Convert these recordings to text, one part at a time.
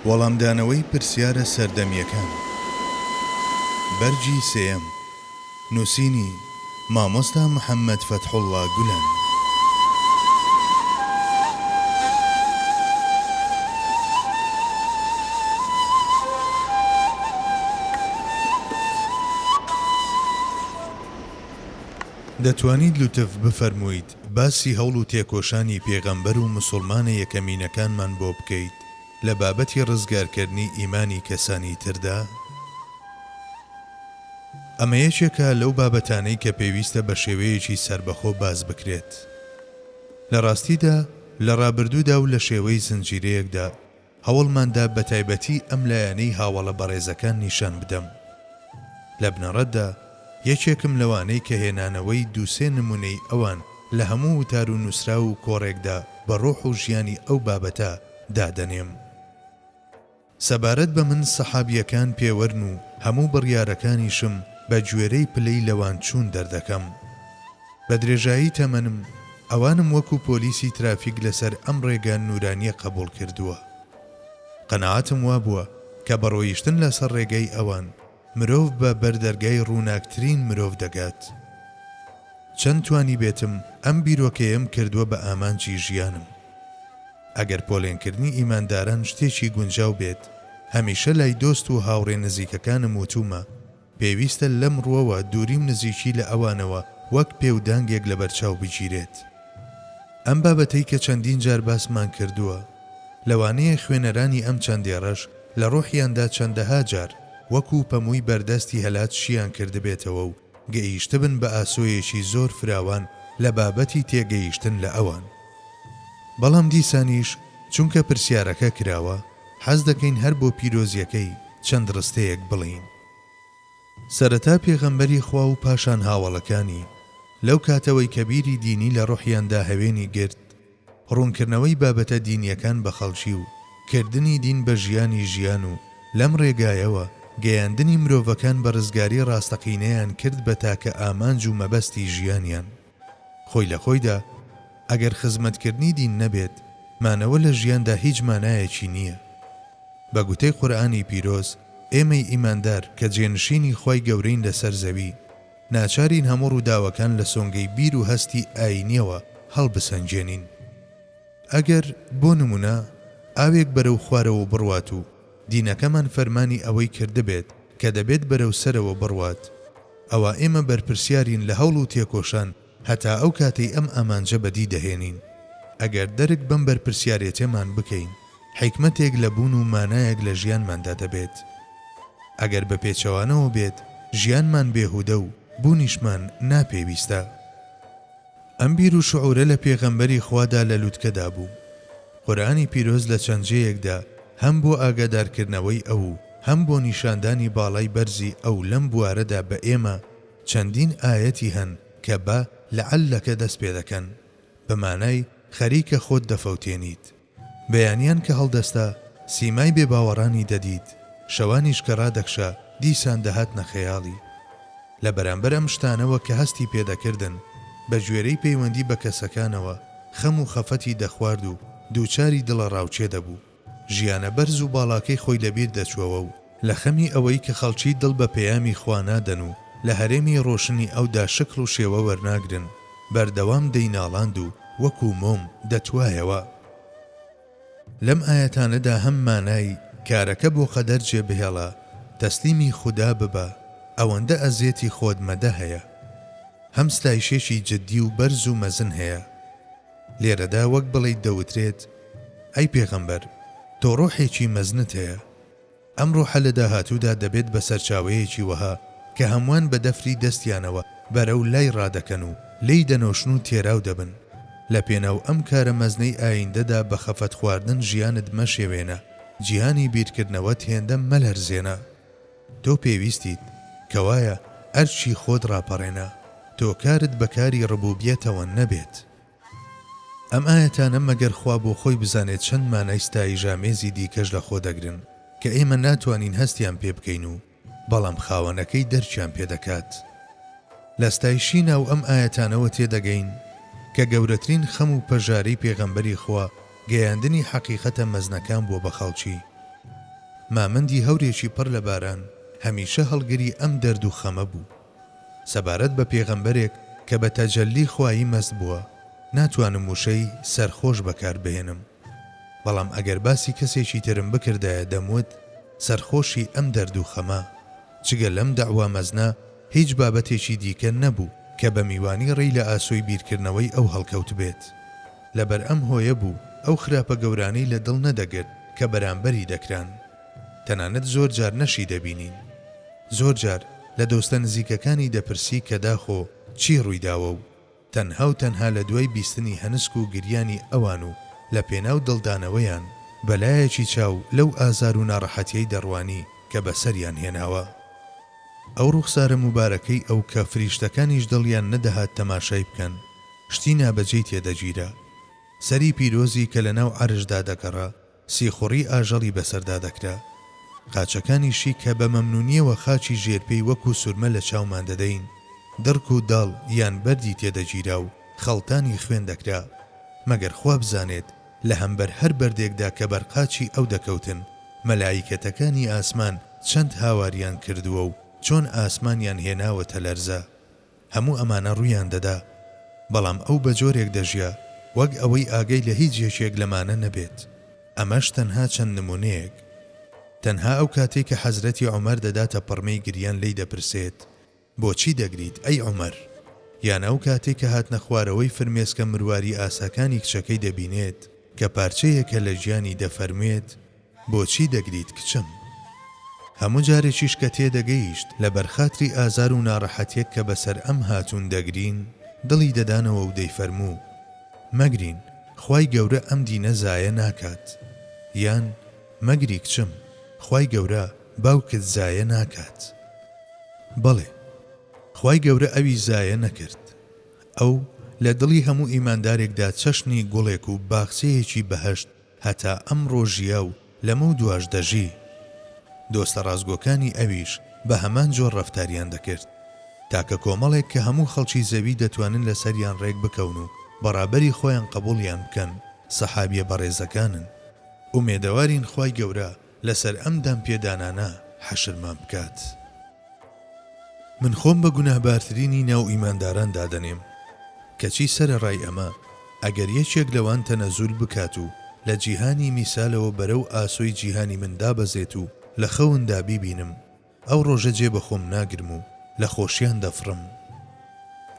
وەڵامدانەوەی پرسیارە سەردەمییەکان بەرگی سێیەم نووسینی، مامۆستا محەممەد فەتحوڵڵا گولەن. دەتوانیت لوتف بفەرموویت باسی هەوڵ و تێکۆشانی پێغەمبەر و مسوڵمانە یەکەمینەکانمان بۆ بکەیت لە بابەتی ڕزگارکەرنی ئیمانی کەسانی تردا؟ ئەمە یەکێکە لەو بابەتانەی کە پێویستە بە شێوەیەکی سەربەخۆ باس بکرێت. لە ڕاستیدا لە ڕابردوودا و لە شێوەی زنجیرەیەکدا، هەوڵماندا بەتایبەتی ئەم لایەنەی هاوەڵە بەڕێزەکان نیشان بدەم. لە بنەڕەتدا یەکێکم لەوانەی کە هێنانەوەی دوو سێ نموونەی ئەوان لە هەموو وتار و نووسراو و کۆڕێکدا بە ڕۆح و ژیانی ئەو بابەتە دادەنێم. سەبارەت بە من سەحابییەکان پێوەرن و هەموو بڕیارەکانیشم بە گوێرەی پلەی لەوانچوون دەردەکەم. بە درێژایی تەمەنم ئەوانم وەکو پۆلیسی ترافیک لەسەر ئەم ڕێگا نورانیە قەبوڵ کردووە. قەناعەتم وابووە کە بە ڕۆیشتن لەسەر ڕێگای ئەوان مرۆڤ بە بەر دەرگای ڕووناکترین مرۆڤ دەگات. چەند توانیبێتم ئەم بیرۆکەیەم کردووە بە ئامانجی ژیانم. ئەگەر پۆلێنکردنی ئیمانداران شتێکی گونجاو بێت، هەمیشە لای دۆست و هاوڕێ نزیکەکانم وتوومە، پێویستە لەم ڕووەوە دووری و نزیکی لە ئەوانەوە وەک پێ و دانگێک لەبەرچاو بگیرێت. ئەم بابەتەی کە چەندین جار باسمان کردووە، لەوانەیە خوێنەرانی ئەم چەند دێڕەش لە ڕۆحیاندا چەندەها جار وەکوو پەمووی بەردەستی هەلات شییان کردبێتەوە و گەییشتبن بە ئاسۆیەکی زۆر فراوان لە بابەتی تێگەییشتن لە ئەوان. بەڵام دیسانیش چونکە پرسیارەکە کراوە، حەز دەکەین هەر بۆ پیرۆزیەکەی چەند ڕستەیەک بڵێین. سەرەتا پێغەمبەری خوا و پاشان هاوەڵەکانی، لەو کاتەوەی کە بیری دینی لە ڕۆحیاندا هەوێنی گرت، ڕوونکردنەوەی بابەتە دینیەکان بە خەڵکی و کردنی دین بە ژیانی ژیان و لەم ڕێگایەوە گەیاندنی مرۆڤەکان بە ڕزگاری ڕاستەقینەیان کرد بە تاکە ئامانج و مەبەستی ژیانیان. خۆی لە خۆیدا ئەگەر خزمەتکردنی دین نەبێت، مانەوە لە ژیاندا هیچ مانایەکی نییە. بە گوتەی قورئانی پیرۆز، ئێمەی ئیماندار کە جێنشینی خوای گەورەین لەسەر زەوی، ناچارین هەموو ڕووداوەکان لە سۆنگەی بیر و هەستی ئایینییەوە هەڵبسەنگێنین. ئەگەر، بۆ نموونە، ئاوێک بەرەو خوارەوە بڕوات و دینەکەمان فەرمانی ئەوەی کردبێت کە دەبێت بەرەو سەرەوە بڕوات، ئەوا ئێمە بەرپرسیارین لە هەوڵ و تێکۆشان هەتا ئەو کاتەی ئەم ئامانجە بەدی دەهێنین. ئەگەر دەرک بەم بەرپرسیارێتێمان بکەین، حیکمەتێک لە بوون و مانایەک لە ژیانماندا دەبێت. ئەگەر بە پێچەوانەوە بێت، ژیانمان بێهودە و بوونیشمان ناپێویستە. ئەم بیر و شعورە لە پێغەمبەری خوادا لە لوتکەدا بوو. قورئانی پیرۆز لە چەند جێیەکدا هەم بۆ ئاگادارکردنەوەی ئەو و هەم بۆ نیشاندانی باڵای بەرزی ئەو لەم بوارەدا بە ئێمە، چەندین ئایەتی هەن کە بە، لعلک، دەست پێدەکەن، بە مانای، خەریکە خۆت دەفەوتێنیت. بەیانیان کە هەڵدەستا، سیمای بێباوەڕانی دەدیت، شەوانیش کە ڕادەکشا، دیسان دەهاتنە خەیاڵی. لە بەرامبەر ئەم شتانەوە کە هەستی پێ دەکردن، بە گوێرەی پەیوەندی بە کەسەکانەوە، خەم و خەفەتی دەخوارد و دووچاری دڵەڕاوکێ دەبوو. ژیانە بەرز و باڵاکەی خۆی لەبیر دەچووەوە و لە خەمی ئەوەی کە خەڵکی دڵ بە پەیامی خوا نادەن و لە هەرێمی ڕۆشنی ئەودا شکڵ و شێوە وەرناگرن، بەردەوام دەیناڵاند و وەکوو مۆم دەتوایەوە. لەم ئایەتانەدا هەم مانای، کارەکە بۆ قەدەر جێبهێڵە، تەسلیمی خودا ببە، ئەوەندە ئەزیەتی خۆت مەدە هەیە. هەم ستایشێکی جددی و بەرز و مەزن هەیە. لێرەدا وەک بڵێیت دەوترێت، ئەی پێغەمبەر، تۆ ڕۆحێکی مەزنت هەیە، ئەم ڕۆحە لە داهاتوودا دەبێت بە سەرچاوەیەکی وەها کە هەمووان بە دەفری دەستیانەوە بەرەو لای ڕادەکەن و لێی دەنۆشن و تێراو دەبن. لە پێناو ئەم کارە مەزنەی ئاییندەدا بە خەفەت خواردن ژیانت مەشێوێنە، جیهانی بیرکردنەوەت هێندە مەلەرزێنە. تۆ پێویستیت، کەوایە ئەرکی خۆت ڕاپەڕێنە، تۆ کارت بە کاری ڕبوبیەتەوە نەبێت. ئەم ئایەتانە مەگەر خوا بۆ خۆی بزانێت چەند مانای ستاییژامێزی دیکەش لە خۆ دەگرن کە ئێمە ناتوانین هەستیان پێ بکەین و بەڵام خاوەنەکەی دەرکیان پێ دەکات. لە ستایشی ناو ئەم ئایەتانەوە تێ دەگەین کە گەورەترین خەم و پەژارەی پێغەمبەری خوا گەیاندنی حەقیقەتە مەزنەکان بووە بە خەڵکی. مامەندی هەورێکی پڕ لە باران هەمیشە هەڵگری ئەم دەرد و خەمە بوو. سەبارەت بە پێغەمبەرێک کە بە تەجەللی خوایی مەست بووە، ناتوانم وشەی، سەرخۆش، بەکار بهێنم. بەڵام ئەگەر باسی کەسێکی ترم بکردایە دەموت، سەرخۆشی ئەم دەرد و خەمە. جگە لەم دەعوا مەزنە، هیچ بابەتێکی دیکە نەبوو کە بە میوانی ڕێی لە ئاسۆی بیرکردنەوەی ئەو هەڵکەوتبێت. لەبەر ئەم هۆیە بوو ئەو خراپە گەورانەی لە دڵ نەدەگرت کە بەرامبەری دەکران. تەنانەت زۆر جار نەشی دەبینین. زۆر جار لە دۆستە نزیکەکانی دەپرسی کە داخۆ چی ڕوویداوە و تەنها و تەنها لە دوای بیستنی هەنسک و گریانی ئەوان و لە پێناو دڵدانەوەیان بە لایەکی چاو لەو ئازار و ناڕەحەتیەی دەڕوانی کە بەسەریان هێناوە. ئەو ڕوخسارە موبارەکەی ئەو کە فریشتەکانیش دڵیان نەدەهات تەماشای بکەن، شتی نابەجێی تێدەگیرا. سەری پیرۆزی کە لەناو عەرشدا دەگەڕا سیخوڕی ئاژەڵی بەسەردا دەکرا. قاچەکانیشی کە بە مەمنوونییەوە خاچی ژێرپێی وەکوو سورمە لە چاومان دەدەین، دڕک و داڵ یان بەردی تێ دەگیرا و خەڵتانی خوێن دەکرا. مەگەر خوا بزانێت لە هەمبەر هەر بەردێکدا کە بەر قاچی ئەو دەکەوتن، مەلائیکەتەکانی ئاسمان چەند هاواریان کردووە و چۆن ئاسمانیان هێناوەتە لەرزە. هەموو ئەمانە ڕوویان دەدا، بەڵام ئەو بە جۆرێک دەژیا وەک ئەوەی ئاگای لە هیچ یەکێک لەمانە نەبێت، ئەمەش تەنها چەند نموونەیەک. تەنها ئەو کاتەی کە حەزرەتی عومەر دەداتە پڕمەی گریان لێی دەپرسێت، بۆچی دەگریت ئەی عومەر؟ یان ئەو کاتەی کە هاتنە خوارەوەی فرمێسکە مرواری ئاساکانی کچەکەی دەبینێت کە پارچەیەکە لە گیانی دەفەرموێت، بۆچی دەگریت کچم؟ هەموو جارێکیش کە تێدەگەیشت لە بەرخاتری ئازار و ناڕەحەتیەک کە بەسەر ئەم هاتوون دەگرین، دڵی دەدانەوە و دەیفەرموو، مەگرین، خوای گەورە ئەم دینە زایە ناکات. یان، مەگری کچم، خوای گەورە باوکت زایە ناکات. بەڵێ، خوای گەورە ئەوی زایە نەکرد. ئەو لە دڵی هەموو ئیماندارێکدا چەشنی گوڵێک و باخچەیەکی بەهەشت هەتا ئەمڕۆ ژیا و لەمەو دواش دەژی. دۆستە ڕاستگۆکانی ئەویش بە هەمان جۆر ڕەفتاریان دەکرد. تاکە کۆمەڵێک کە هەموو خەڵکی زەوی دەتوانن لەسەریان ڕێک بکەون و بە ڕابەری خۆیان قەبووڵیان بکەن، سەحابیە بەڕێزەکانن. ئومێدەوارین خوای گەورە لەسەر ئەم دانپێدانانە حەشرمان بکات. من خۆم بە گوناهبارترینی ناو ئیمانداران دادەنێم، کەچی سەرەڕای ئەمە ئەگەر یەکێک لەوان تەنەزول بکات و لە جیهانی میسالەوە بەرەو ئاسۆی جیهانی من دابەزێت و لە خەوندا بیبینم، ئەو ڕۆژە جێ بە خۆم ناگرم و لە خۆشیان دەفڕم.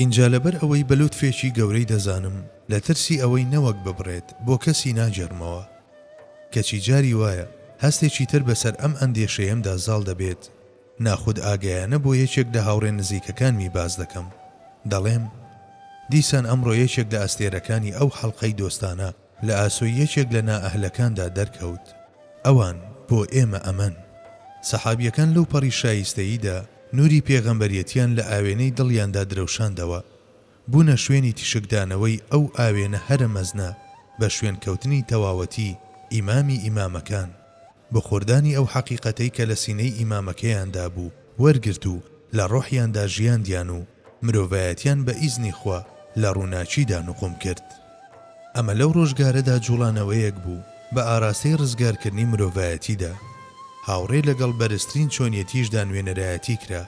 ئینجا لەبەر ئەوەی بە لوتفێکی گەورەی دەزانم، لە ترسی ئەوەی نەوەک ببڕێت، بۆ کەسی ناگێڕمەوە. کەچی جاری وایە، هەستێکی تر بەسەر ئەم ئەندێشەیەمدا زاڵ دەبێت، ناخودئاگایانە بۆ یەکێک لە هاوڕێ نزیکەکانمی باس دەکەم. دەڵێم، دیسان ئەمڕۆ یەکێک لە ئەستێرەکانی ئەو حەڵقەی دۆستانە، لە ئاسۆی یەکێک لە نائەهلەکاندا دەرکەوت، ئەوان بۆ ئێمە ئەمەن. سەحابییەکان لەو پەڕی شایستەییدا نووری پێغەمبەرێتیان لە ئاوێنەی دڵیاندا درەوشاندەوە، بوونە شوێنی تیشکدانەوەی ئەو ئاوێنە هەرە مەزنە بە شوێنکەوتنی تەواوەتی ئیمامی ئیمامەکان. بۆ خۆردانی ئەو حەقیقەتەی کە لە سینەی ئیمامەکەیان دابوو وەرگرت و لە ڕۆحیاندا ژیاندیان و مرۆڤایەتیان بە ئیزنی خوا لە ڕووناکیدا نوقوم کرد. ئەمە لەو ڕۆژگارەدا جوڵانەوەیەک بوو بە ئاراستەی ڕزگارکردنی مرۆڤایەتیدا. هاوڕێ لەگەڵ بەرزترین چۆنیەتیشدا نوێنەرایەتی کرا.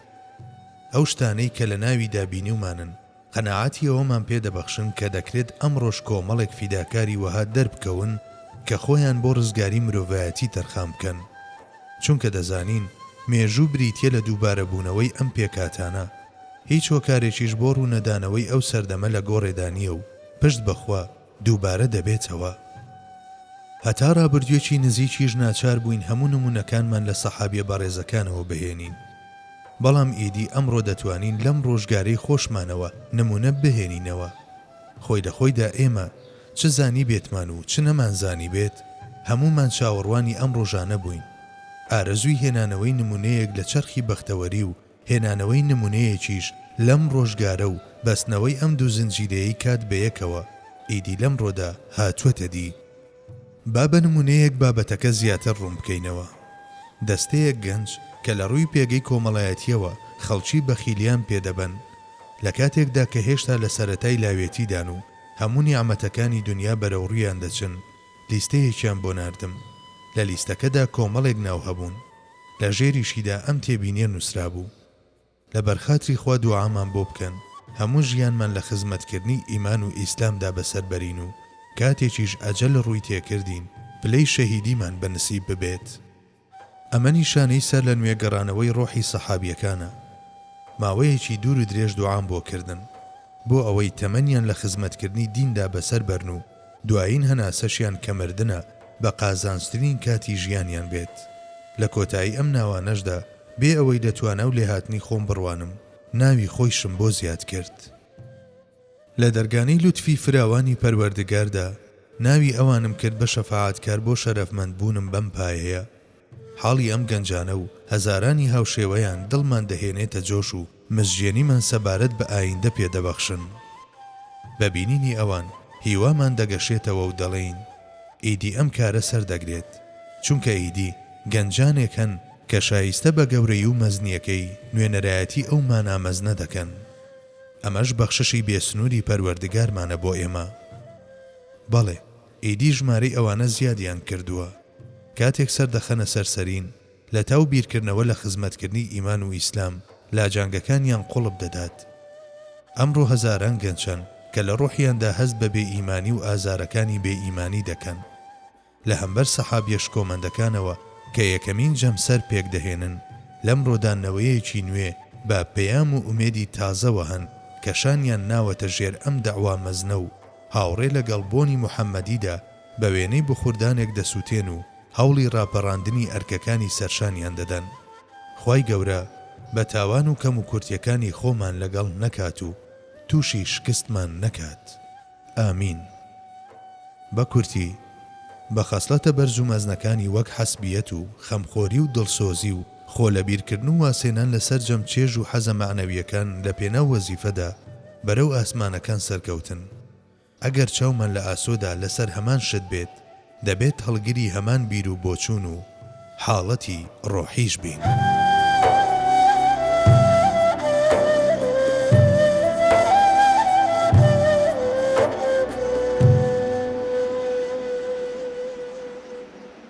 ئەو شتانەی کە لە ناویدا بینیومانن. قەناعەتی ئەوەمان پێ دەبەخشن کە دەکرێت ئەمڕۆش کۆمەڵێک فیداکاری وەها دەربکەون کە خۆیان بۆ ڕزگاری مرۆڤایەتی تەرخان بکەن. چونکە دەزانین مێژوو بریتییە لە دووبارەبوونەوەی ئەم پێکهاتانە. هیچ هۆکارێکیش بۆ ڕوونەدانەوەی ئەو سەردەمە لە گۆڕێدا نییە و پشت بە خوا، دووبارە دەبێتەوە هەتا ڕابردوێکی نزیکیش ناچار بووین هەموو نمونەکانمان لە سەحابیە بەڕێزەکانەوە بهێنین بەڵام ئیدی ئەمڕۆ دەتوانین لەم ڕۆژگارەی خۆشمانەوە نمونە بهێنینەوە خۆی لە خۆیدا ئێمە چ زانیبێتمان و چ نەمانزانیبێت هەموومان چاوەڕوانی ئەم ڕۆژانە بووین ئارەزووی هێنانەوەی نمونەیەک لە چەرخی بەختەوەری و هێنانەوەی نموونەیەکیش لەم ڕۆژگارە و بەستنەوەی ئەم دوو زنجیرەیەی کات بەیەکەوە، ئیدی لەمڕۆدا هاتووەتە دی. با بە نموونەیەک بابەتەکە زیاتر ڕوون بکەینەوە. دەستەیەک گەنج کە لە ڕووی پێگەی کۆمەڵایەتییەوە خەڵکی بەخیلیان پێ دەبەن، لە کاتێکدا کە هێشتا لە سەرەتای لاوێتیدان و هەموو نیعمەتەکانی دونیا بەرەوڕوویان دەچن، لیستەیەکیان بۆ ناردم. لە لیستەکەدا کۆمەڵێک ناو هەبوون. لە ژێریشیدا ئەم تێبینیە نوسرابوو، لە بەرخاتری خوا دوعامان بۆ بکەن هەموو ژیانمان لە خزمەتکردنی ئیمان و ئیسلامدا بەسەر بەرین و کاتێکیش ئەجەل ڕووی تێکردین پلەی شەهیدیمان بە نسیب ببێت. ئەمە نیشانەی سەرلەنوێ گەڕانەوەی ڕۆحی سەحابیەکانە. ماوەیەکی دوور و درێژ دوعام بۆ کردن، بۆ ئەوەی تەمەنیان لە خزمەتکردنی دیندا بەسەر بەرن و، دوایین هەناسەشیان کە مردنە بە قازانجترین کاتی ژیانیان بێت. لە کۆتایی ئەم ناوانەشدا بێ ئەوەی لە توانا و لێهاتنی خۆم بڕوانم، ناوی خۆیشم بۆ زیاد کرد. لە دەرگانەی لوتفی فراوانی پەروەردگاردا ناوی ئەوانم کرد بە شەفاعەتکار بۆ شەرەفمەندبوونم بەم پایەیە. حاڵی ئەم گەنجانە و هەزارانی هاوشێوەیان دڵمان دەهێنێتە جۆش و مزژێنیمان سەبارەت بە ئایندە پێ دەبەخشن. بە بینینی ئەوان هیوامان دەگەشێتەوە و دەڵێین، ئیدی ئەم کارە سەر دەگرێت، چونکە ئیدی گەنجانێک هەن کە شایستە بە گەورەی و مەزنییەکەی نوێنەرایەتی ئەو مانا مەزنە دەکەن. ئەمەش بەخششی بێسنووری پەروەردگارمانە بۆ ئێمە. بەڵێ! ئیدی ژمارەی ئەوانە زیادیان کردووە کاتێک سەر دەخەنە سەر سەرین لەتاو بیرکردنەوە لە خزمەتکردنی ئیمان و ئیسلام لاجانگەکانیان قوڵپ دەدات ئەمڕۆ هەزاران گەنچن کە لە ڕۆحیاندا هەست بە بێ ئیمانی و ئازارەکانی بێ ئیمانی دەکەن لە هەمبەر سەحابیە شکۆمەندەکانەوە کە یەکەمین جەمسەر پێک دەهێنن لەمڕۆدا نەوەیەکی نوێ بە پەیام و ئومێدی تازەوە هەن کە شانیان ناوەتە ژێر ئەم دەعوا مەزنە و هاوڕێ لە گەڵ بۆنی محەمەدیدا بە وێنەی بخوردانێک دەسووتێن و هەوڵی ڕاپەڕاندنی ئەرکەکانی سەرشانیان دەدەن. خوای گەورە بە تاوان و کەموکورتیەکانی خۆمان لە گەڵ نەکات و تووشی شکستمان نەکات. ئامین. بە کورتی، بە خەسڵەتە بەرز و مەزنەکانی وەک حەسبیەت و خەمخۆری و دڵسۆزی و خۆ لەبیرکردن و وازهێنان لە سەرجەم چێژ و حەزە مەعنەویەکان لە پێناو وەزیفەدا، بەرەو ئاسمانەکان سەرکەوتن. ئەگەر چاومان لە ئاسۆدا لەسەر هەمان شت بێت، دەبێت هەڵگری هەمان بیر و بۆچوون و حاڵەتی ڕۆحیش بین.